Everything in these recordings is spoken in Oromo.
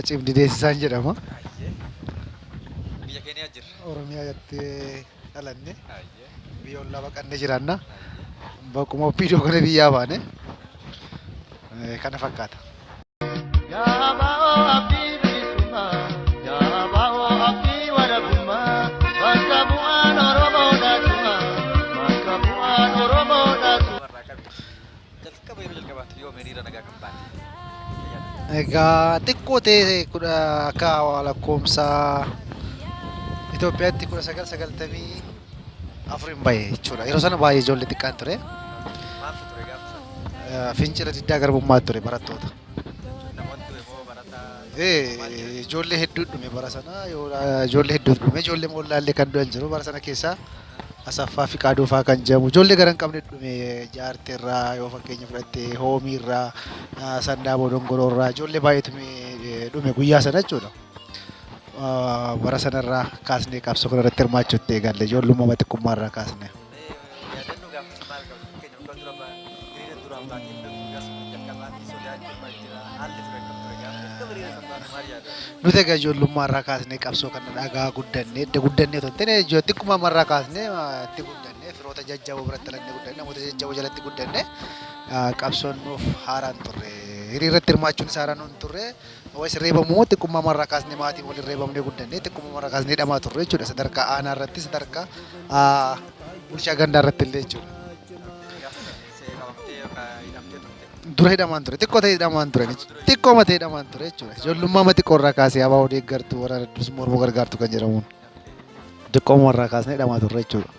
Cimdi deessisaan jedhama. Biyya keenya jirra. Oromiyaa irratti dhalanne biyya ollaa baqannee jiraanna. Bakkuma ofiidoo kana biyyaa baane kana fakkaata. Egaa xiqqoo ta'e kudha akka lakkoomsa Itoophiyaatti kudha sagal sagaltamii afuriin bahe jechuudha. Yeroo sana baay'ee ijoollee xiqqaan ture. Maaltu ture gaafa sana? Eh, Fincila diddaa garbummaa ture barattoota. Namoonni ture moo barataa? Eh, Ijoollee hedduu dhume bara sana yoo- ijoollee hedduu dhume ijoollee moollaallee kan du'an jiru bara sana keessaa Asaffaa fi Qaaduufaa kan jedhamu ijoollee gara hin qabne dhume jaartee irraa yoo fakkeenya fudhatte hoomii irraa ah, sandaaboo dongoroo irraa ijoollee baay'eetu mi- dhume guyyaa sana jechuudha. Bara sana irraa kaasnee qabsoo kana irratti hirmaachuu itti eegalle. Ijoollummaa xiqqummaa irraa kaasnee. Yaadannoo gaafa sun maal qabdu? Fakkeenyaaf kan dura ba'an hiriira duraan baatee hin beektu gaaf sun jalqabaatti sodaachuu maal jira? Haalli ture akkam ture gaafa jalqaba hiriira san baatu maal yaadata? Nuti egaa ijoollummaa irraa kaasnee qabsoo kana dhagaa guddannee edda guddannee otoo hin taane ijoo xiqqummaa irraa kaasnee itti guddannee firoota jajjaboo biratti dhalannee guddannee namoota jajjaboo jalatti guddannee qabsoon nuuf haaraan turre. Hiriirratti hirmaachuun isaa haaraan nuun turre. Wayis reebamu moo xiqqummaama irraa kaasnee maatiin waliin reebamnee guddannee xiqqummaama irraa kaasnee hidhamaa turre jechuudha sadarkaa aanaa irratti sadarkaa ah, bulchaa gandaa irratti illee jechuudha. Dura hidhamaan ture xiqqoo ta'e hidhamaan ture xiqqoo mata hidhamaan ture jechuudha. Ijoollummaa mati qorraa kaasee abaa odeeggartuu waraana dursi mormoo gargaartu kan jedhamuun. Diqqooma irraa kaasnee hidhamaa turre jechuudha.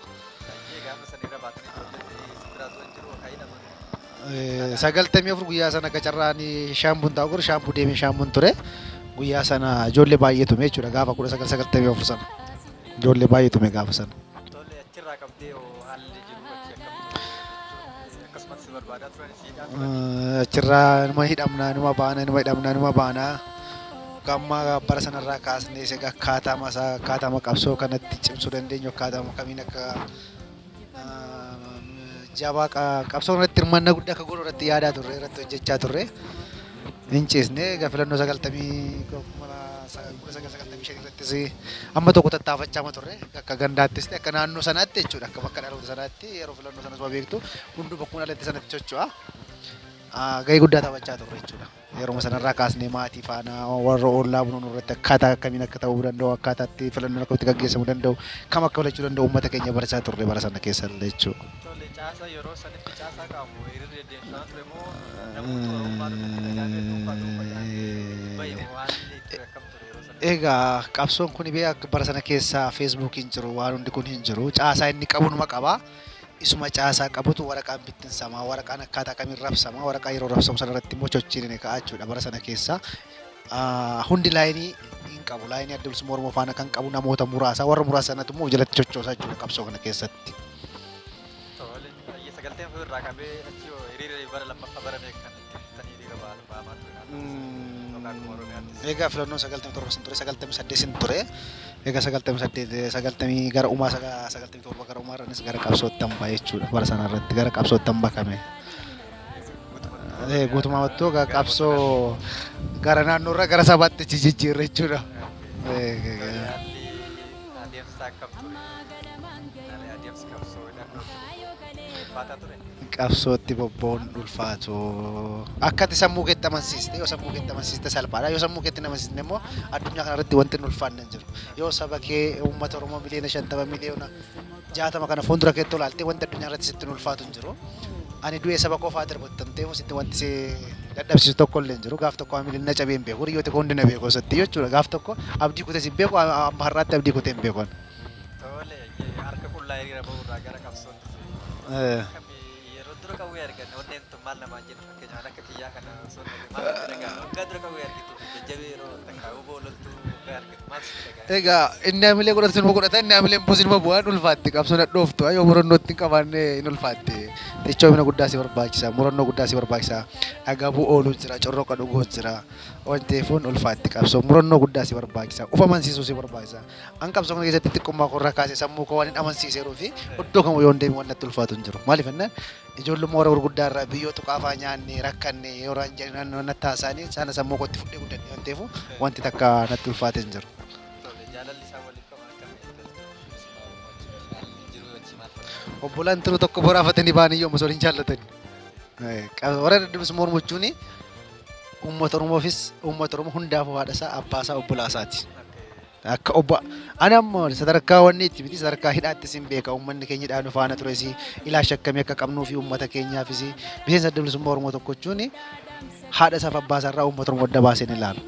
Sagaltamii afur guyyaa sana akka carraan shaambuun taa'u godhu shaambuu deemee shaambuun ture. Guyyaa sana ijoollee baay'ee tume jechuudha gaafa kudha sagal sagaltamii afur sana. Ijoollee baay'ee tume gaafa sana. Achirraa qabdee hoo haalli jiru achi akkamitti? Akkasumatti si barbaadaa turani? Achirraa numa hidhamna, numa baana, numa hidhamna, numa baana. Gamma bara sanarraa kaasnee isa akkaataama isaa akkaataama qabsoo kanatti cimsuu dandeenyu akkaataama kamiin akka jabaa qabsoo irratti hirmaannaa guddaa akka goonu irratti yaadaa turre irratti hojjechaa turre. hin ciisne egaa filannoo 1995 irrattis amma tokko tattaafachaama turre akka gandaattis ta'e akka naannoo sanaatti jechuudha akka bakka dhaloota sanaatti yeroo filannoo sanas beektu hunduu bakkuma dhalatte sanatti socho'a gahee guddaa taphachaa turre jechuudha. Yeruma sanarraa kaasnee maatii faana warra ollaa bunuun irratti akkaataa akkamiin akka ta'uu danda'u akkaataa itti filannoon akkamitti gaggeessamuu danda'u kam akka filachuu danda'u uummata keenya barachaa turre bara sana keessa jechuudha. Tole caasaa yeroo sanitti caasaa qabu hiriirri deddeemsaa ture moo namoota Oromoo irratti nagaa fi dhuunfaa dhuunfaa bahe moo haalli itti akkam ture yeroo sana? Egaa qabsoon kun bee akka bara sana keessa feesbuukiin jiru waan hundi kun hin jiru caasaa inni qabu numa qaba isuma caasaa qabutu waraqaan bittinsamaa waraqaan akkaataa kamiin rabsama waraqaa yeroo rabsamu sana irratti immoo chochiin inni ka'aa jechuudha bara sana keessa hundi laayinii hin qabu. Laayinii adda bilisummaa Oromoo faana kan qabu namoota muraasa. Warra muraasa sanatu immoo jalatti coccoosaa jechuudha qabsoo kana keessatti. Egaa filannoon sagaltamii torba sin ture sagaltamii saddeet sin ture. Egaa sagaltamii saddeet sagaltamii gara umaa sagaltamii torba gara umaa irranis gara qabsootti hambaa jechuudha bara sanarratti gara qabsootti hambakame. Guutummaatti qabsoo gara naannoo irraa gara sabaatti jijjiirre jechuudha. Adeemsa akkam ture? Malee adeemsi qabsoo hidhannoo ulfaataa ture. Qabsootti bobba'uun ulfaatu. Akkati sammuu keetti amansiiste yoo sammuu keetti amansiiste salphaadha. Yoo sammuu keetti amansiiste immoo addunyaa kanarratti wanti hin ulfaanne hin jiru. Yoo saba kee uummata Oromoo miliyoona shantama miliyoona jaatama kana fuuldura keetti olaaltee wanti addunyaa irratti sitti hin ulfaatu hin jiru. Ani du'ee saba koo fa'aa darbattamtee sitti wanti si dadhabsiisu tokko illee hin jiru. Gaaf tokko hamileen na cabee hin beeku. Hiriyoota koo hundi na beeku osatti jechuudha. Gaaf tokko abdii kutes hin beeku. Amma har'aatti abdii kutee hin beeku. Tole harka qullaa hiriira ba'uurraa gara qabsootti. Yeroo dura qawwee arganne onneen tun maal namaan jedhu. Keenyaan akka kiyyaa kana osoo hin maal sitti dhaga'ama? Waggaa dura kan wayii argitu jajjabee yeroo takka huboo loltuu waggaa argitu maal sitti dhaga'ama? Egaa inni hamilee godhatu sinuma godhata inni hamilee immoo sinuma bu'aa hin ulfaatti qabsoo nadhooftu yoo murannoo itti hin qabaanne hin ulfaatti cichoomina guddaa si barbaachisa murannoo guddaa si barbaachisa agabuu ooluu jira corroqa dhuguu jira waan ta'eef hin ulfaatti qabsoo murannoo guddaa si barbaachisa of amansiisuu si barbaachisa an qabsoo kana keessatti xiqqummaa koo irraa kaasee sammuu koo waan hin amansiiseeruu fi iddoo kamuu yoo hin deebiin waan natti ulfaatu hin jiru maaliif jennaan Ijoollumma warra gurguddaa irraa biyyoo tuqaa fa'aa nyaanne, rakkanne yoo irraan jedhan natti haasa'anii sana sammuu kootti fudhee guddadhe waan ta'eefuu wanti takka natti ulfaate hin jiru. Tole, jaalalli isaan waliif qaban akkami? Ati osoo jiruu si baa'u wajjin jiraatanii jiruu wajjii maal fakkaata? Obbolaan tiruu tokko boraafatanii ba'anii yoom osoo hin jaallatanii. Warra dadhabus mormuchuun uummata Oromoofis uummata Oromoo hundaafuu haadha isaa, abbaa isaa, obbolaa isaati. Akka obbo ani amma sadarkaa wanni itti miti sadarkaa hidhaatti sin beeka uummanni keenya hidhaa nu faana tures ilaacha akkamii akka qabnuu fi uummata keenyaafis miseensa adda bilisummaa Oromoo tokko jechuun haadha isaaf abbaa isaa irraa uummata Oromoo adda baasee ni ilaala.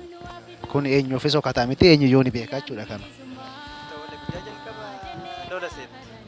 Kun eenyuufis hokataa miti eenyuyyuu ni beeka jechuudha kana. Ta'ulle guyyaa jalqaba lola seente.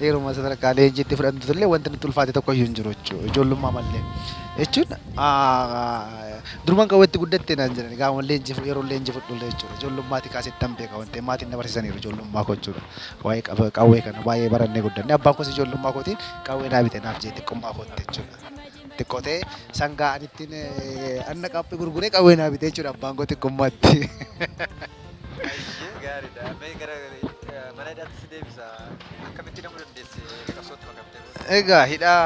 Yeruma sadarkaa leenjii itti fudhannutullee wanti nutti ulfaate tokkoyyuu hin jiru jechuudha. Ijoollummaa mallee. Jechuun duruman qawwee itti guddatte naan jedhani gaafa leenjii yeroo leenjii fudhullee jechuudha. Ijoollummaatii kaasee ittan beeka waan ta'eef maatiin na barsiisaniiru ijoollummaa koo jechuudha. Waa'ee qawwee kana baay'ee barannee guddanne. Abbaan koos ijoollummaa kootiin qawwee naa bite naaf jee xiqqummaa kootti jechuudha. Xiqqoo ta'ee sangaa ani ittiin anna qaaphee gurguree qawwee naa bite jechuudha abbaan koo xiqqummaatti. Ayyee gaariidha. Mee gara eh, mana hidhaatti si deebisa. Akkamitti hidhamuu dandeesse qabsootti makamtee booda? Egaa hidhaa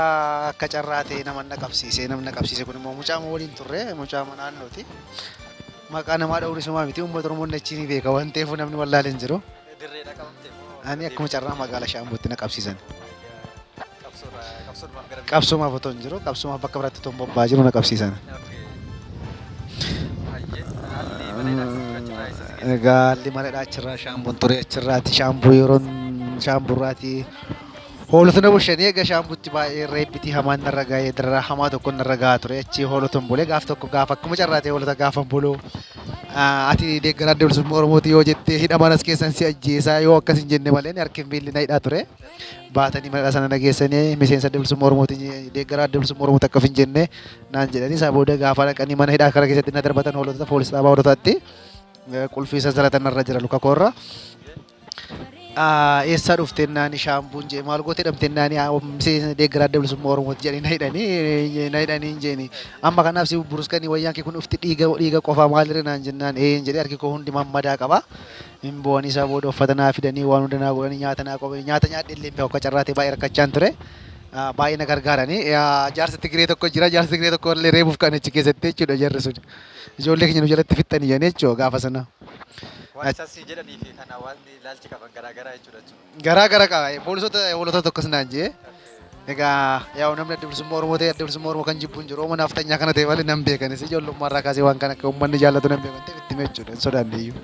akka carraa ta'e nama na qabsiise namni na qabsiise kun immoo mucaa moo waliin turre mucaa mana naannooti. Maqaa namaa dha'uun isumaa miti uummata Oromoon achi ni beeka waan ta'eef namni wallaalee hin jiru. Dirreedha qabamte moo? Ani akkuma carraa magaalaa Shaambuutti na qabsiisan. Qabsoomaaf otoo hin jiru qabsoomaaf bakka biraatti otoo hin bobba'aa jiru na qabsiisan. Egaa haalli mareedhaa achirraa shaambuun ture achirraati shaambuu yeroon shaamburraati hoolota na bulshanii egaa shaambutti baay'ee reebbitii hamaan narra ga'ee dararaa hamaa tokko narra ga'aa ture achi hoolota hin bulee gaaf tokko gaaf akkuma carraatee hoolota gaafa hin buluu ati deeggaraa deemsummaa Oromooti yoo jettee hidhamaan as keessan si ajjeesaa yoo akkas hin jenne malee harki hin miilli na hidhaa ture. baatanii manadha sana na geessanii miseensa adda bilisummaa Oromooti deeggaraa adda bilisummaa Oromooti akkaf hin jenne naan jedhanii isaa booda gaafa dhaqanii mana hidhaa kara keessatti na darbatan hoolota poolis dhaabaa hoolotaatti qulfii sansalata narra jira luka koorra. Eessaa dhufteen naani shaambuun jee maal gootee dhamteen naani miseensa deeggaraa adda bilisummaa Oromooti jedhanii na hidhanii na hidhanii hin jeeni amma kanaaf si buruskanii wayyaan kee kun dhufti dhiiga dhiiga qofaa maalirra naan jennaan ee hin jedhee harki koo hundi mammadaa qaba Hin boo'anii isaa booda uffata naa fidanii waan hunda naa godhanii nyaata naa qopheessanii nyaata nyaadhee illee hin beeku akka carraa ta'e baay'ee rakkachaan ture. Baay'ee na gargaarani. Jaarsi Tigiree tokko jira. Jaarsi Tigiree tokko illee reebuuf ka'an achi keessatti jechuudha jarri sun. Ijoollee keenya nu jalatti fixxanii jedhanii jechuudha gaafa sana. Waan isaan sii jedhanii fi kan hawaasni ilaalchi qaban garaa garaa jechuudha jechuudha. Garaa gara qaba. Poolisoota hoolotatu akkas naan jee. Egaa yaa'u namni adda bilisummaa Oromoo ta'e adda bilisummaa Oromoo kan jibbu hin jiru. Oromoo naafxanyaa kana ta'e malee nan beekanis ijoollummaa irraa kaasee waan kana akka uummanni jaallatu nan beekan ta'e itti meechuudha hin sodaanne iyyuu.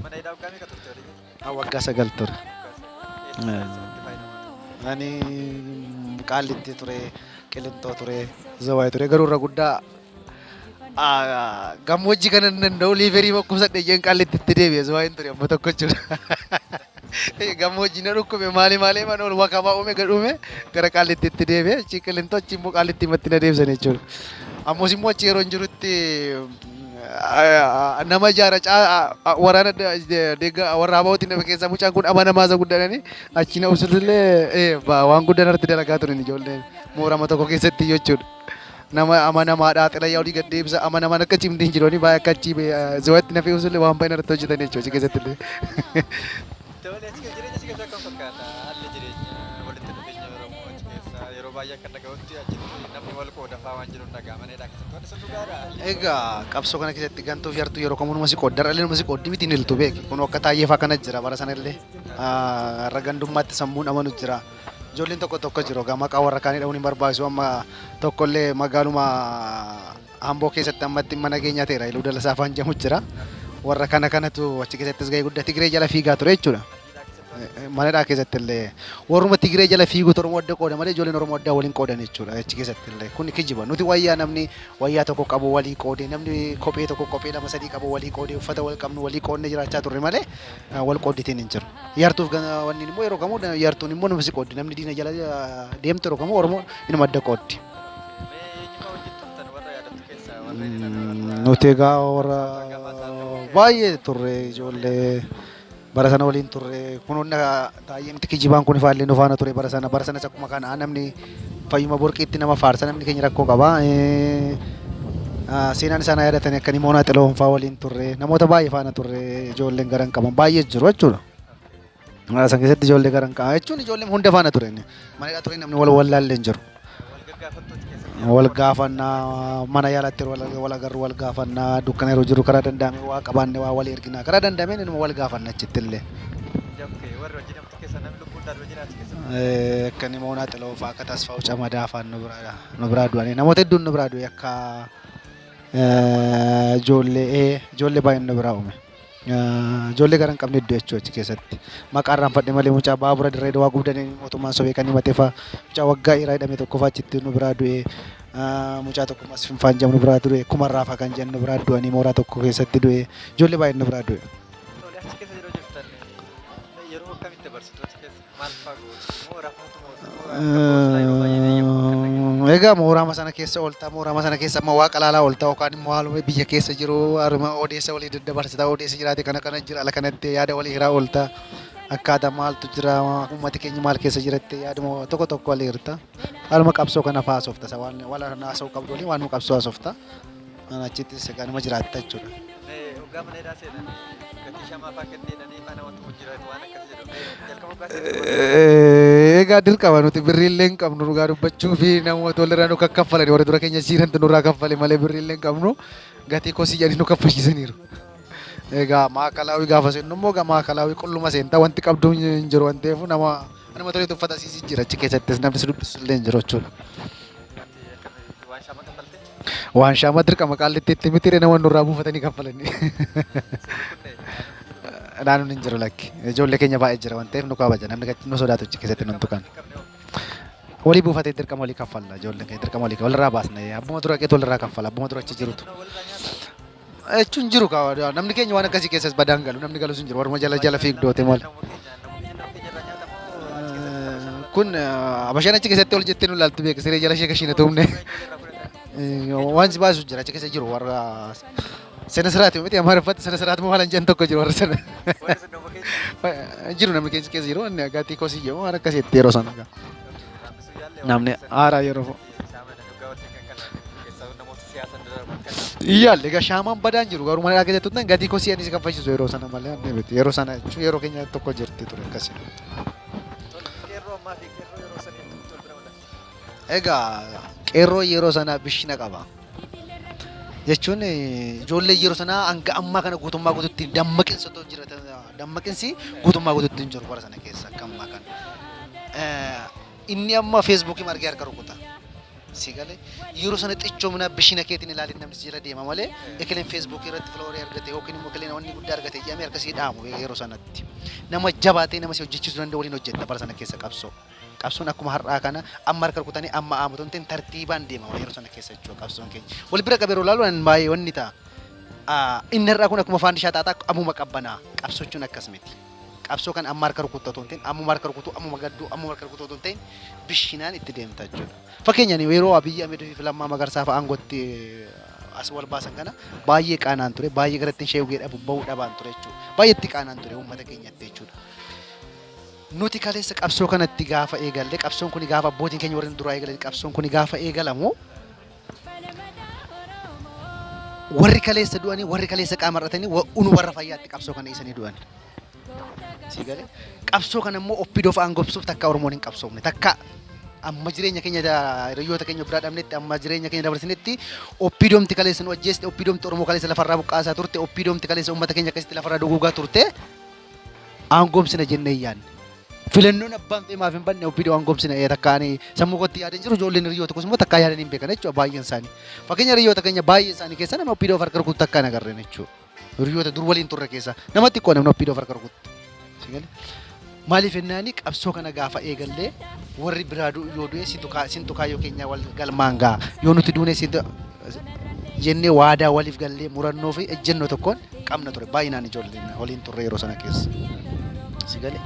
Mana hidhaa waggaa meeqa turte walii galatti? Haa waggaa sagal ture. Eessa eessa itti fayyadamte? Ani qaallitti ture, qilintoo ture, zawaay ture garuu irra guddaa ah, gammoojjii kana hin danda'u liiverii bakkubsadhe jeen qaallitti itti deebi'e zawaayin ture amma tokko jechuudha. Gammoojji na dhukkube maali maali man ol wakabaa uume gad uume gara qaallittiitti deebi'e achi qilinxoo achi immoo qaallittiimatti na deebisan jechuudha. Ammas immoo achi yeroon jirutti ah, nama ijaara caa ah, ah, waraana da- de- deegga warra abaa'uutti nama keessaa mucaan kun amanamaa isa guddaadhani achi na usulullee eh, ba- waan guddaan irratti dalagaa turan ijoolleen moorama tokko keessatti jechuudha. nama amanamaadha xilayyaa olii gad deebisa amanamaan akka cimdi hin jiru baay'ee akka achi ziwaatti na fe'uus illee waan baay'ee narratti hojjetan jechuudha achi keessatti illee. Tole achi jireenya achi keessa akkam fakkaata? Haalli jireenya walitti dhufeenya Oromoo achi keessa yeroo baay'ee akka dhaga'utti achitti namni wal qoodafaa waan jiru hin dhaga'amanidha keessatti wanti sun dhugaadha. Egaa qabsoo kana keessatti gantuuf yartuu yeroo kamuu numa si qoodda dhalli numa si qooddi miti hin iltu beeki kun akka taayyeef akkana jira bara sana illee har'a gandummaatti sammuun amanu jira. Ijoolleen tokko tokko jiru. Egaa maqaa warra kaanii dha'uun hin barbaachisu. Amma tokkollee magaaluma Amboo keessatti ammatti dhimma nageenyaa ta'eera. Iluu Dalasaa afaan jedhamu jira. Warra kana kanatu achi keessattis gahee guddaa Tigiree jala fiigaa ture jechuudha. Manadhaa keessatti illee warruma Tigiree jala fiiguutu Oromoo adda qooda malee ijoolleen Oromoo addaa waliin qoodan jechuudha. Achi keessatti illee kun kijiba. Nuti wayyaa namni wayyaa tokko qabu walii qoodee namni kophee tokko kophee lama sadii qabu walii qoodee uffata wal qabnu walii qoodnee jiraachaa turre malee Kan wal qoodditeen hin jiru. Yartuuf wanni immoo yeroo kamuu yartuun immoo nuuf si qooddi. Namni diina jala deemtu yeroo kamuu Oromoo inuma adda qooddi. Nuti egaa warra baay'ee turre ijoollee bara sana waliin turre kun hunda Taayyee miti kijibaan kun ifaallee nu faana ture bara sana bara sanas akkuma kana namni fayyuma borqiitti nama faarsa namni keenya rakkoo qaba. Seenaan isaan yaadatanii akka nimoonaa xiloon fa'aa waliin turre namoota baay'ee faana turre ijoolleen garan qaban baay'ee jiru jechuudha. San keessatti ijoollee garan qaban jechuun ijoolleen hunda faana ture. Manadhaa ture namni wal wallaallee hin jiru. wal gaafanna mana yaalatti yeroo wal- wal agarru wal gaafanna dukkana yeroo jirru karaa danda'ame waa qabaanne waa walii ergina karaa danda'ameen inuma wal gaafanna achitti illee. Eh, Akka inni moonaa xiloo fa'aa akka tasfaa'u camadaa fa'aan nu biraa nu biraa du'anii namoota hedduun nu biraa du'e akka eh, ijoollee eh, ijoollee baay'een nu biraa uume. Ijoollee gara hin qabne iddoo jechuu achi keessatti. Maqaa irraanfadhe malee mucaa baabura dirree dawaa gubdanii mootummaan sobee kan himate fa'a. Mucaa waggaa dhiiraa hidhame tokko fa'a achitti nu biraa du'e. Mucaa tokko mas finfaan jedhamu nu biraa du'e. Kuma irraa fa'a kan jedhan nu biraa du'anii mooraa tokko keessatti du'e. Ijoollee baay'een nu biraa du'e. Yeroo akkamitti dabarsitu achi keessa? Egaa mooraama sana keessa ooltaa mooraama sana keessa amma waaqa laalaa ooltaa yookaan immoo haaluma biyya keessa jiru haruma odeessa walii daddabarsitaa odeessa jiraate kana kana jira ala kanatti yaada walii hiraa ooltaa akkaataa maaltu jira uummati keenya maal keessa jiratte yaaduma tokko tokko walii hirta haaluma qabsoo kana fa'aa soofta isa waan wal haasa'uu qabdu walii waan qabsoo soofta. Mana achittis egaa nama jiraatta jechuudha. Hoggaa mana hidhaa seenan gatii shamaa fa'aa kennee jedhanii mana wanti kun jiraatu waan akkas jedhu jalqaba hoggaa seenan. Egaa dirqama nuti birriillee hin qabnu dhugaa dubbachuu fi namoota walirraa nu kaffalani warri dura keenya siirantu nurraa kaffale malee birriillee hin qabnu gatii kosii jedhanii nu kaffalchiisaniiru. Egaa maakalaawii gaafa seennu immoo egaa maakalaawii qulluma seenta wanti qabdu hin jiru waan ta'eef nama nama toleetu uffata siisii jira achi keessattis namni si dubbisu illee hin jiru jechuudha. Ati akkamitti waan shamaa kaffaltee? Waanshaa amma dirqama qaallittiitti mitiire nama nurraa buufatanii kaffalanii. Naannoon hin jiru lakki. Ijoollee keenya baay'ee jira waan ta'eef nu kabaja. Namni gad- nu sodaatu achi keessatti nun tuqan. Walii buufatee dirqama walii kaffalla. Ijoolleen keenya dirqama walii walirraa baasna. Abbuma dura qeetu walirraa kaffala. Abbuma dura achi jirutu. Jechuun hin jiru kaa namni keenya waan akkasii keessas badaan galu namni galus hin jiru warruma jala jala fiigdoote malee. Kun abashaan achi keessatti ol jettee nu ilaaltu beeka siree jala ishee kashiina tuumne. Waan si baasu jira achi keessa jiru warra sena siraati miti amaariffatti sena siraati moo halan jedhan tokko jiru warra sana. Jiru namni keessa keessa jiru inni agaatii kosii jedhamu waan akkasii itti yeroo sana. Namni haaraa yeroo. Iyyaal egaa shaamaan badaan jiru garuu mana dhagaa jettuutan gadii koo si'anii si kan fayyisisu yeroo sana malee anni miti yeroo sana jechuun yeroo keenya tokko jirti ture akkasii. Egaa qeerroo yeroo sana bishina qaba. Jechuun eh, ijoollee yeroo sana hanga ammaa kana guutummaa guutuutti dammaqinsa otoo jiratan dammaqinsi guutummaa guutuutti hin jiru bara sana keessa akka ammaa kana. Eh, Inni amma feesbuukiin argee harka rukuta. Si galee yeroo sana xichoominaa bishina keetiin ilaalin namni jira deema malee ekileen feesbuukii irratti filoorii argate yookiin immoo ekileen wanni guddaa argate jedhamee harkasii dhaamu yeroo sanatti. Nama jabaatee nama si hojjechiisuu danda'u waliin hojjetta bara sana keessa qabsoo. Qabsoon akkuma har'aa kana amma harka rukutanii amma aamutu hin ta'in tartiibaan deema yeroo sana keessa jechuudha qabsoon keenya. Wal bira qabee yeroo ilaalu ani baay'ee wanni ta'a. Ah, Inni har'aa kun akkuma faandishaa xaaxaa ammuma qabbanaa qabsochuun akkas miti. Qabsoo kana amma harka rukutta otoo hin ta'in ammuma harka rukutuu ammuma gadduu ammuma harka rukutuu otoo hin ta'in bishinaan itti deemta jechuudha. Fakkeenyaan yeroo Abiyyi Ahmed fi Lammaa Magarsaa fa'a aangootti as wal baasan kana baay'ee qaanaan ture baay'ee gara ittiin sheegee dhabu bahuu dhabaan ture jechuudha. Baay'ee itti qaanaan ture uummata keenyatti jechuudha. Nuti kaleessa qabsoo kanatti gaafa eegalle qabsoon kun gaafa abbootiin keenya warri duraa eegalan qabsoon kun gaafa eegalamu Warri kaleessa du'anii, warri kaleessa qaama hir'atanii, wa- unu warra fayyaatti qabsoo kana dhiisanii du'an. Sii galee? Qabsoo kana immoo oppidoof aangobsuuf takka Oromoon hin qabsoofne. Takka amma jireenya keenya da- hiriyoota keenya biraa dhabnetti, amma jireenya keenya dabarsinetti oppidoomti kaleessa nu ajjeeste, oppidoomti Oromoo kaleessa lafarraa buqqaasaa turte, oppidoomti kaleessa uummata keenya akkasitti lafarraa duguugaa turte. aangomsina jennee hin yaadne. Filannoon abbaan fe'e maaf hin banne OPDO aangomsina ee takka ani sammuu kootti yaada hin jiru ijoolleen hiriyoota tokkos immoo takkaa yaadanii hin beekan jechuudha baay'een isaanii. Fakkeenya hiriyoota keenya baay'ee isaanii keessa nama OPDO of harka rukutu takkaa hin agarreen jechuudha. Hiriyoota dur waliin turre keessa namatti xiqqoo namni OPDO of harka rukutu. Si galee? Maaliif jennaani qabsoo kana gaafa eegallee warri biraa du'u yoo du'e si tukaa sin tukaa yoo keenya wal galmaan ga'a yoo nuti duune si jennee waadaa waliif gallee murannoo fi ejjennoo tokkoon qabna ture baay'inaan ijoolleen waliin turre yeroo sana keessa. Si galee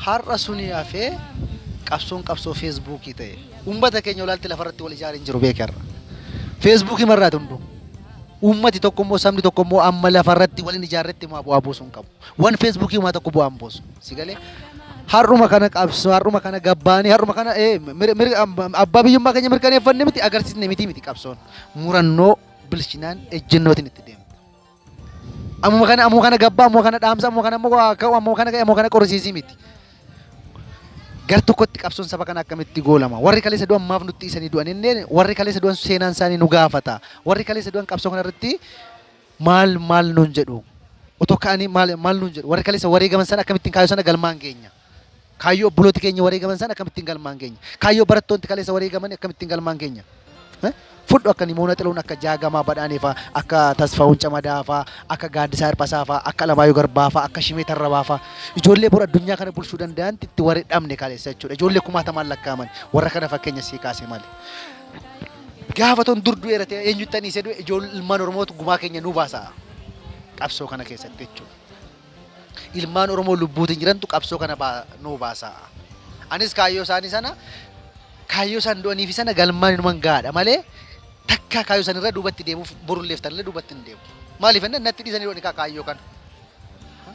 har'a suni hafee qabsoon qabsoo feesbuukii ta'e uummata keenya olaalti lafarratti wal ijaaree hin jiru beekee har'a. Feesbuukii marraati hunduu. Uummati tokko immoo sabni tokko immoo amma lafarratti waliin ijaarretti immoo bu'aa buusuu hin qabu. Wan feesbuukii uumaa tokko bu'aa hin buusu. Si galee har'uma kana qabsoo har'uma kana gabbaanii har'uma kana eh, mir- mir- abbaa biyyummaa keenya mirkaneeffanne miti agarsiisne miti miti qabsoon murannoo bilchinaan ejjennootiin itti deemta. Ammuma kana ammuma kana gabbaa ammuma kana dhaamsa ammuma kana immoo waa ka'u ammuma kana ka'e ammuma kana qorisiisii miti. Gar tokkotti qabsoon saba kana akkamitti goolama warri kaleessa du'an maaf nutti isanii du'an inneen warri kaleessa du'an seenaan isaanii nu gaafata warri kaleessa du'an qabsoo kana irratti maal maal nuun jedhu otoo ka'anii maal maal nuun jedhu warri kaleessa wareegaman sana akkamittiin kaayoo sana galmaan geenya. Kaayyoo obbolooti keenya wareegaman sana akkamittiin galmaan keenya? Kaayyoo barattoonti kaleessa wareegaman akkamittiin galmaan keenya? Eh? Fudhu akka Nimoona Xiluun, akka Jaagamaa Badhaanee faa, akka Tasfaawun Camadaa faa, akka Gaaddisaa Hirphasaa faa, akka Alamaayoo Garbaa faa, akka Shimee Tarrabaa faa. Ijoollee bor addunyaa kana bulchuu danda'anti itti warri dhabne kaleessa jechuudha. Ijoollee kumaatamaan lakkaa'aman warra kana fakkeenya sii kaase malee. Gaafa ton dur du'eera ta'e eenyutti aniisee du'e ijoollee ilmaan Oromootu gumaa keenya nuu baasa qabsoo kana keessatti jechuudha. Ilmaan Oromoo lubbuutiin jirantu qabsoo kana nuu baasa. Anis kaayyoo isaanii sana kaayyoo isaan du'aniifi sana galmaan inuman gahaadha malee takkaa kaayyoo isaan irra duubatti deemuuf borulleef tanillee duubatti hin deemu. Maaliif ennaan natti dhiisanii du'anii kaa kaayyoo kana.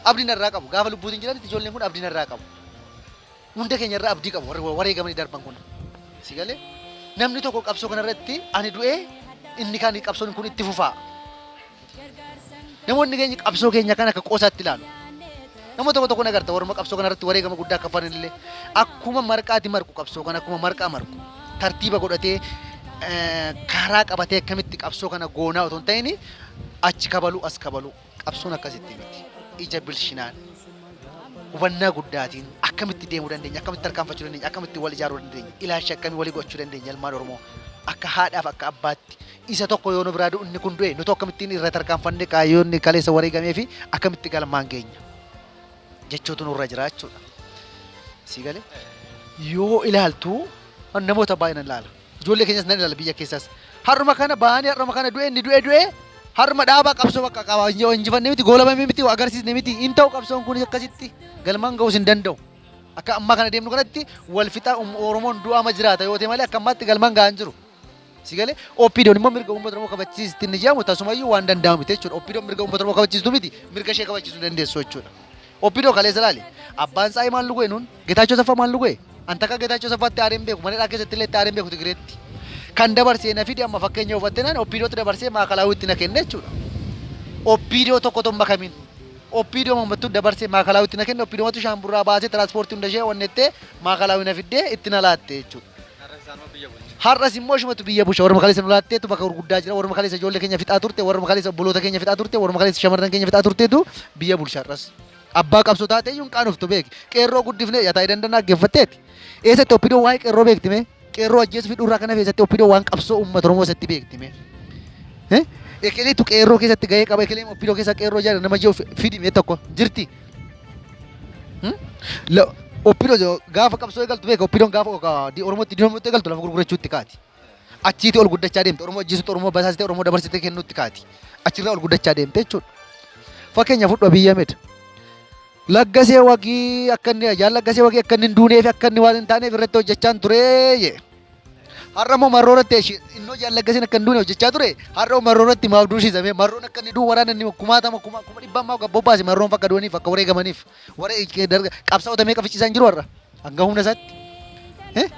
Abdiin irraa qabu. Gaafa lubbuutiin jiranitti ijoolleen kun abdiin irraa qabu. Hunda keenya irra abdii qabu warri wareegamanii darban kun. Si galee? Namni tokko qabsoo kana irratti ani du'ee inni kaan qabsoon kun itti fufaa. Namoonni keenya qabsoo keenya kan akka qoosaatti ilaalu. Nama tokko tokko nagarta warra qabsoo kana irratti wareegama guddaa akka fanan illee akkuma marqaati marqu qabsoo kana akkuma marqaa marqu tartiiba godhatee eh, karaa qabatee akkamitti qabsoo kana goonaa otoo hin ta'in achi kabaluu as kabaluu. Qabsoon akkasitti miti. Ija bilchinaan, hubannaa guddaatiin akkamitti deemuu dandeenya, akkamitti tarkaanfachuu dandeenya, akkamitti wal ijaaruu dandeenya, ilaalcha akkamii walii gochuu dandeenya ilmaan Oromoo. Akka haadhaaf akka abbaatti isa tokko yoo nu biraa du'u inni kun du'e nuti akkamittiin irra tarkaanfannee kaayyoonni kaleessa wareegamee fi akkamitti galmaan geenya jechuutu nurra jira jechuudha. Sii galee yoo ilaaltu namoota baay'een ilaala. Ijoollee keenyas nan ilaala biyya keessas. Har'uma kana bahanii har'uma kana du'e inni du'e du'e har'uma dhaabaa qabsoo bakka qaba injifanne miti goolabame miti agarsiisne miti hin ta'u qabsoon kun akkasitti galmaan ga'uus hin danda'u. Akka ammaa kana deemnu kanatti wal fixaa Oromoon du'aama jiraata yoo ta'e malee akka ammaatti galmaan ga'an jiru. Si galee OPDOn immoo mirga uummata Oromoo kabachiisti inni jedhamu tasumayyuu waan danda'amu miti jechuudha. OPDOn mirga uummata Oromoo kabachiistu miti mirga ishee kabachiisuu dandeessu jechuudha. OPDO kaleessa ilaali. Abbaan isaa Imaan Lugeenuun Getaachoo Asaffaa maal nu go'e? An takka Getaachoo Asaffaatti aareen beeku, mana hidhaa keessatti illee itti aareen beeku Tigireetti. Kan dabarsee na fidi amma fakkeenya hubattee naan Oppiidootti dabarsee Maakalaawwiitti na kenne jechuudha. Oppiidoo tokko otoo hin makamin. Oppiidoo mammattuu dabarsee Maakalaawwiitti na kenne Oppiidoomatu shaamburraa baasee tiraanspoortii hunda ishee wannettee Maakalaawwii na fiddee itti na laatte jechuudha. Har'as immoo ishumatu biyya bulcha warra makaleessa nu laatteetu bakka gurguddaa jira warra makaleessa ijoollee keenya fixaa turte warra makaleessa obboloota keenya fixaa turte warra makaleessa shamarran keenya fixaa turteetu biyya bulcha har'as. Abbaa qabsoo taatee iyyuu hin qaanoftu beeki. Qeerroo guddifnee yataa dandan dhaggeeffatteeti. Eessatti oppidoon waa'ee qeerroo beekti mee? Qeerroo ajjeesuu fi dhurraa kana keessatti oppidoon waan qabsoo uummata Oromoo isatti beekti mee? Eh? Ekeleetu qeerroo keessatti gahee qaba. Ekeleen oppidoo keessa qeerroo jaala nama jiru fidi mee tokko jirti. Hmm? La- Oppidoo gaafa qabsoo eegaltu beeka oppidoon gaafa Oromootti diinomutti eegaltu lafa gurgurachuutti kaati. Achiitii ol guddachaa deemte. Oromoo ajjeesutti, Oromoo basaasitee, Oromoo dabarsitee kennuutti kaati. Achirraa ol guddachaa deemte jechuudha. Fakkeenya fudhu Abiy Ahmed. Laggasee wagii akka inni ajaan laggasee wagii akka inni hin duunee fi akka inni waan hin taaneef irratti hojjechaan turee jee. Har'a immoo marroo irratti eshi- inni hojjaan laggaseen akka hin duune hojjechaa ture. Har'a immoo marroo irratti maaf duusisamee marroon akka inni du'u waraana inni kumaatama kuma kuma dhibbaa maaf gabbobbaase marroon fakka du'aniif akka wareegamaniif waree qabsaa'ota meeqa ficciisaa hin jiru har'a. Hanga humna isaatti eh,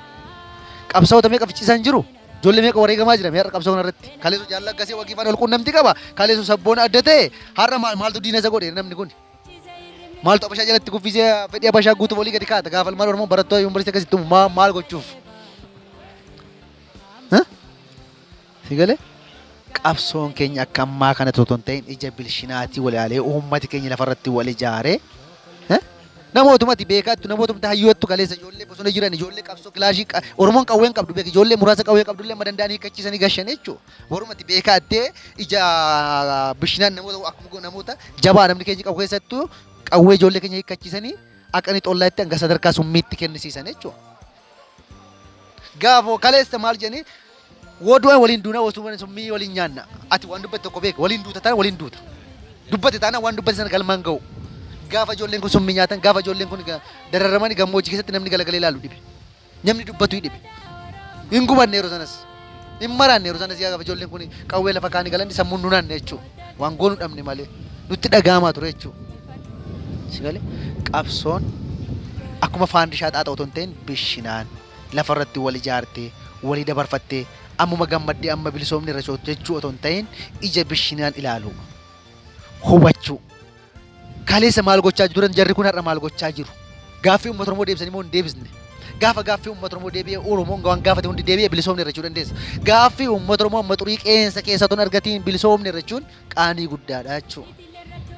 qabsaa'ota meeqa ficciisaa hin jiru. Ijoollee meeqa wareegamaa jira har'a qabsoo kanarratti. Kaleessu jaalala akkasii wagii faana walquunnamtii qaba. Kaleessu sabboona adda ta'e har'a maal maaltu diina isa godhe namni kun. Maaltu abashaa jalatti kuffisee fedhii abashaa guutuuf olii gadi kaata. Gaafa ilmaan Oromoo barattoota yuunivarsiitii akkasitti maal gochuuf. Si gale? Qabsoon keenya akka ammaa kana otoo hin ta'in ija bilshinaatii wal ilaalee uummati keenya lafarratti wal ijaaree eh, namootumati beekaattu namootumti hayyoottu kaleessa ijoollee bosona jiran ijoollee qabsoo kilaashii qa- Oromoon qawwee hin qabdu beek ijoollee muraasa qawwee qabdu illee madandaan hiikkachiisanii gashan jechuudha. Warumati beekaattee ija bishinaan namoota akkuma namoota jabaa namni keenya qabu keessattuu qawwee ijoollee keenya hiikkachiisanii akka inni xollaa itti hanga sadarkaa summiitti kennisiisan jechuudha. Gaafoo kaleessa maal jedhanii Woo du'a waliin duuna woo summii summii waliin nyaanna. Ati waan dubbate tokko beeka waliin duuta taana waliin duuta. Dubbate taana waan dubbate sana galmaan ga'u. Gaafa ijoolleen kun summii nyaatan gaafa ijoolleen kun ga- dararamanii gammoojjii keessatti namni galagalee ilaalu dhibe. Namni dubbatu hin dhibe. Hin gubanne yeroo sanas. Hin maraanne yeroo sanas gaafa ijoolleen kun qawwee lafa kaanii galan sammuun nu naanne jechuudha. Waan goonu dhabne malee nutti dhaga'amaa ture jechuudha. Si galee qabsoon akkuma faandishaa xaaxa otoo hin ta'in bishinaan. lafa irratti wal ijaartee, walii dabarfattee, ammuma gammaddee amma bilisoomne irra cootu jechuu otoo hin ta'iin ija bishinaan ilaaluu. Hubachuu. Kaleessa maal gochaa turan jarri kun har'a maal gochaa jiru? Gaaffii uummata Oromoo deebisanii moo hin deebisne? Gaafa gaaffii uummata Oromoo deebi'e Oromoon waan gaafate hundi deebi'e bilisoomne irra jechuu dandeessa. Gaaffii uummata Oromoo amma xurii qeensa keessa otoo hin argatiin bilisoomne irra jechuun qaanii guddaadha jechuudha.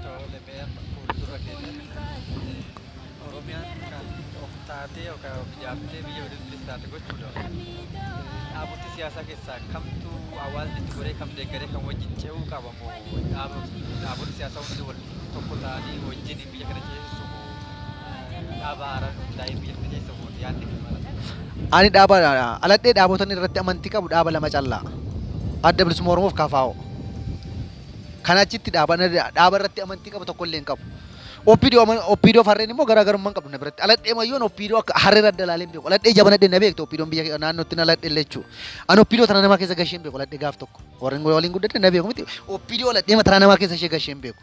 Tole mee amma fuuldura keessatti Oromiyaan kan of taatee yookaan of ijaartee biyya waliin bilis taate gochuudhaaf dhaabota siyaasaa keessaa kamtu hawaasni itti goree kam deeggaree kan wajjin ce'uu qaba moo dhaabota siyaasaa hundi wal tokko ta'anii wajjin biyya kana ceesisuu koo dhaaba haaraan hundaa'ee biyya kana keessa koo yaadni kee mala. Ani dhaaba dhaladhee dhaabotan irratti amantii qabu dhaaba lama callaa. Adda bilisummaa Oromoof KFO. Kana achitti dhaaba dhaaba irratti amantii qabu tokko illee hin qabu. Oppiidoo oppiidoo farreen immoo garaagarummaa hin qabdu na biratti. Aladhee mayyoon oppiidoo akka harree adda ilaalee hin beeku. Aladhee jabana dhee na beektu oppiidoon biyya naannootti na aladhee illee jechuudha. Ani oppiidoo tana namaa keessa gashee hin beeku aladhee gaaf tokko. Warreen waliin guddadhe na beeku miti. Oppiidoo aladhee mataraa namaa keessa ishee gashee hin beeku.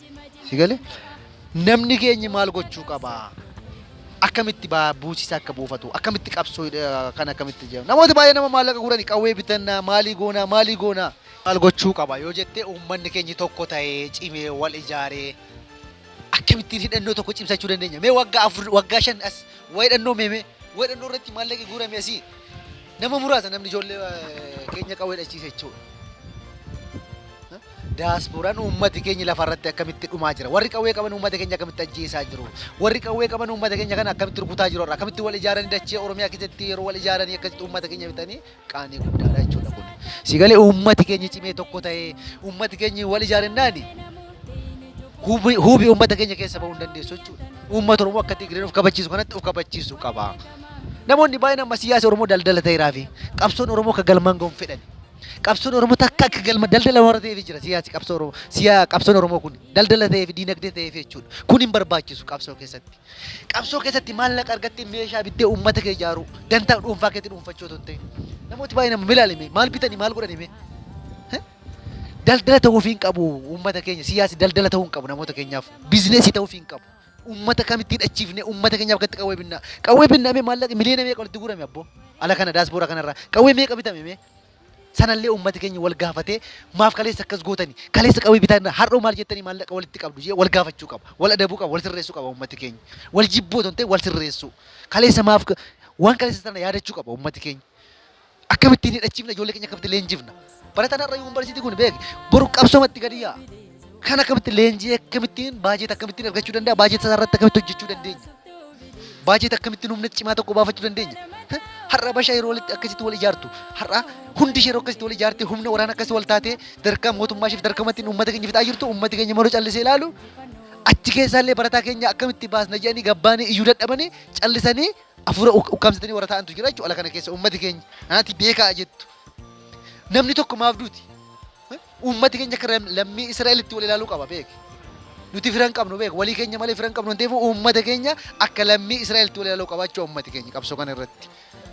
Si gale? Namni keenyi maal gochuu qaba? Akkamitti baa- buusiisa akka buufatu? Akkamitti qabsoo eh, kan akkamitti jedhamu? Namoota baay'ee nama maallaqa gurani qawwee bitannaa maalii goonaa maalii goonaa? Maal gochuu qaba yoo jettee uummanni keenyi tokko ta'ee cimee wal ijaaree akkamittiin hidhannoo tokko cimsachuu dandeenya? Mee waggaa afur waggaa shan as waa hidhannoo meemee waa hidhannoo irratti maallaqi guurame asii Nama muraasa namni ijoollee keenya qawwee dhachiise jechuudha. Daaspooraan uummati keenya lafa irratti akkamitti dhumaa jira? Warri qawwee qaban uummata keenya akkamitti ajjeesaa jiru? Warri qawwee qaban uummata keenya kana akkamitti rukutaa jiru? Akkamitti wal ijaaranii dachee Oromiyaa keessatti yeroo wal ijaaranii akkasitti uummata keenya bitanii qaanii guddaadha jechuudha kun. Sigalee uummati keenya cimee tokko ta'ee uummati keenya wal ijaarennaan huubi uummata keenya keessa bahuu hin dandeessu jechuudha. Uummata Oromoo akka Tigreen of kabachiisu kanatti of kabachiisu qaba. Namoonni baay'een amma siyaasi Oromoo daldala ta'eeraa fi qabsoon Oromoo akka galmaan ga'uun fedhan. Qabsoon Oromoo takka akka galma daldala warra ta'eef jira siyaasi qabsoo Oromoo siyaa qabsoon Oromoo kun daldala ta'ee fi diinagdee ta'ee fi jechuudha. Kun hin barbaachisu qabsoo keessatti. Qabsoo keessatti maallaqa argattee meeshaa bittee uummata kee ijaaruu dantaa dhuunfaa keetti dhuunfachuu otoo hin ta'in. Namooti baay'een amma milaalime maal bitanii maal godhanii mee? Daldala ta'uuf hin qabu uummata keenya siyaasi daldala ta'uu hin qabu namoota keenyaaf bizineesii ta'uuf hin qabu. Ummata kamitti hidhachiifne ummata keenyaaf gatti qawwee binnaa. Qawwee binna mee maallaqa miliyoona meeqa walitti guurame abboo? Ala kana daasboora kanarraa qawwee meeqa bitame mee? Sanallee ummati keenya wal gaafatee maaf kaleessa akkas gootani? Kaleessa qawwee bitaan har'oo maal jettanii maallaqa walitti qabdu jee wal gaafachuu qaba. Wal adabuu qaba, wal sirreessuu qaba ummati keenya. Wal jibbuu otoo hin ta'in wal sirreessuu. Kaleessa maaf waan kaleessa sana yaadachuu qaba ummati keenya. Akkamitti hin hidhachiifna ijoollee keenya akkamitti leenjifna? Barataan har'a yuunivarsiitii kun beeki boru qabsoomatti gadi yaa'a. Kan akkamitti leenjii akkamittiin baajeeta akkamittiin argachuu danda'a? Baajeeta isaa irratti akkamitti hojjechuu dandeenya? Baajeeta akkamittiin humna cimaa tokko baafachuu dandeenya? Heh, Har'a bashaa yeroo walitti akkasitti wal ijaartu, har'a hundi ishee yeroo akkasitti wal ijaartee humna waraana akkasii wal taatee darkaa mootummaa isheef darkamattiin uummata keenya fixaa jirtu uummati keenya maroo callisee ilaalu achi keessaallee barataa keenya akkamitti baasna jedhanii gabbaanii iyyuu dadhabanii callisanii Hafuura uk- ukkaamsatanii warra taa'antu jira jechuudha ala kana keessa uummati keenya anaati beekaa jettu. Namni tokko maaf duuti? Eh? Uummati keenya akka ram- lammii Israa'elitti wal ilaaluu qaba beeki. Nuti firan qabnu beeki. Walii keenya malee firan qabnu waan ta'eef uummata keenya akka lammii Israa'elitti wal ilaaluu qaba jechuudha uummati keenya qabsoo kana irratti.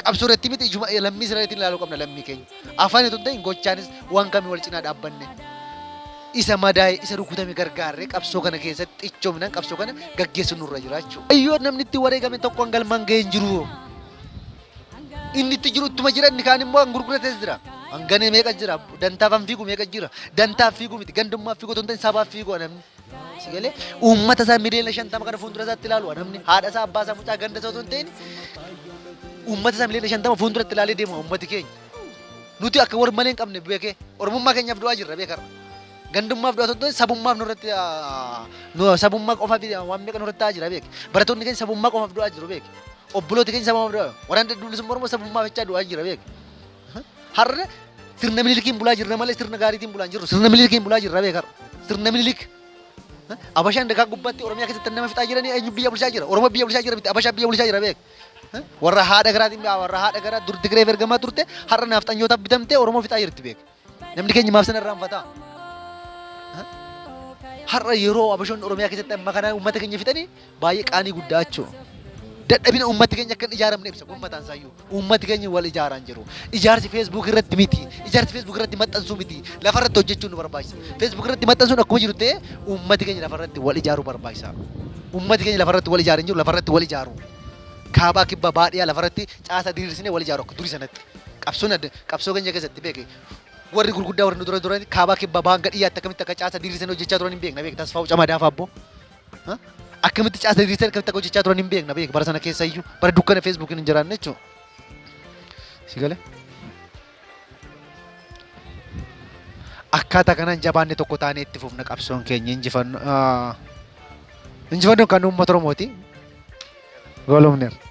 Qabsoo irratti miti ijuma lammii Israa'elitti ilaaluu qabna lammii keenya. Afaan itoo hin ta'in gochaanis waan kamii wal cinaa dhaabbanne. isa madaaye, isa rukutame gargaarree qabsoo kana keessatti cichoominaan qabsoo kana gaggeessuun nurra jira jechuudha. Kaayyoon namni itti wareegame tokko hanga galmaan ga'ee hin jiru. Inni itti jiru ittuma jira inni kaan immoo kan gurgurates jira. Hanganee meeqa jira? Dantaaf kan fiigu meeqa jira? Dantaaf fiigu miti. Gandummaaf fiigu otoo hin ta'in sabaaf fiigu namni. Si galee uummata isaa miliyoona shantama kana fuuldura isaatti ilaalu namni haadha isaa abbaa isaa mucaa ganda isaa otoo hin ta'in uummata isaa miliyoona shantama fuulduratti ilaalee deema uummati keenya. Nuti akka war malee hin qabne beekee oromummaa keenyaaf du'aa jirra beekarra. Gandummaaf du'aa tokko sabummaaf nurratti ah, nu sabummaa qofaaf waan meeqa nurratti ta'aa jira beeke. Barattoonni keenya sabummaa qofaaf du'aa jiru beeke. Obbolooti keenya sabummaaf du'aa jiru. Waraan dadduulisummaa Oromoo sabummaaf jechaa du'aa jira beeke. Har'a sirna minilikiin bulaa jirra malee sirna gaariitiin bulaa hin jirru. Sirna minilikiin bulaa jirra beekarra. Sirna minilik. Abashaan dagaa gubbaatti Oromiyaa keessatti nama fixaa jiranii eenyu biyya bulchaa jira? Oromoo biyya bulchaa jira miti Abashaa biyya bulchaa jira beeke. Warra haadha garaatiin bi'aa warra haadha garaa dur Tigireef ergamaa turte har'a naafxanyootaaf bitamtee Oromoo fixaa jirti beeka. Namni keenya maaf sana irraan fataa? Har'a yeroo abashoonni Oromiyaa keessatti amma kana uummata keenya fixanii baay'ee qaanii guddaa jechuudha. Dadhabina uummati keenya akka hin ijaaramne ibsa kun mataan isaayyuu. Uummati keenya wal ijaaraan jiru. Ijaarsi Facebook irratti miti. Ijaarsi Facebook irratti maxxansuu miti. Lafa irratti hojjechuun nu barbaachisa. Facebook irratti maxxansuun akkuma jiru ta'ee uummati keenya lafa irratti wal ijaaruu barbaachisa. Uummati keenya lafarratti wal ijaare hin jiru, lafarratti wal ijaaru. Kaabaa, Kibbaa, Bahaa, Dhiyaa lafarratti caasaa diriirsinee wal ijaaru akka durii sanatti. Qabsoon adda, qabsoo keenya keessatti beeki. Warri gurguddaa warri nu dura turan Kaabaa, Kibbaa, Bahaa hanga Dhiyyaatti akkamitti akka caasaa diriirsinee hojjechaa turan hin beekna beeki. Tasfaa'u Camadaa fa'aa abboo. Ha? Akkamitti caasaa diriirsinee akkamitti akka hojjechaa turan hin beekna beeki. Bara sana keessa iyyuu bara dukkana Feesbuukiin hin jiraanne jechuudha. Si galee? Akkaataa kanaan jabaanne tokko taanee itti fufna qabsoon keenya injifanno injifannoon kan uummata Oromooti. Goolumneera.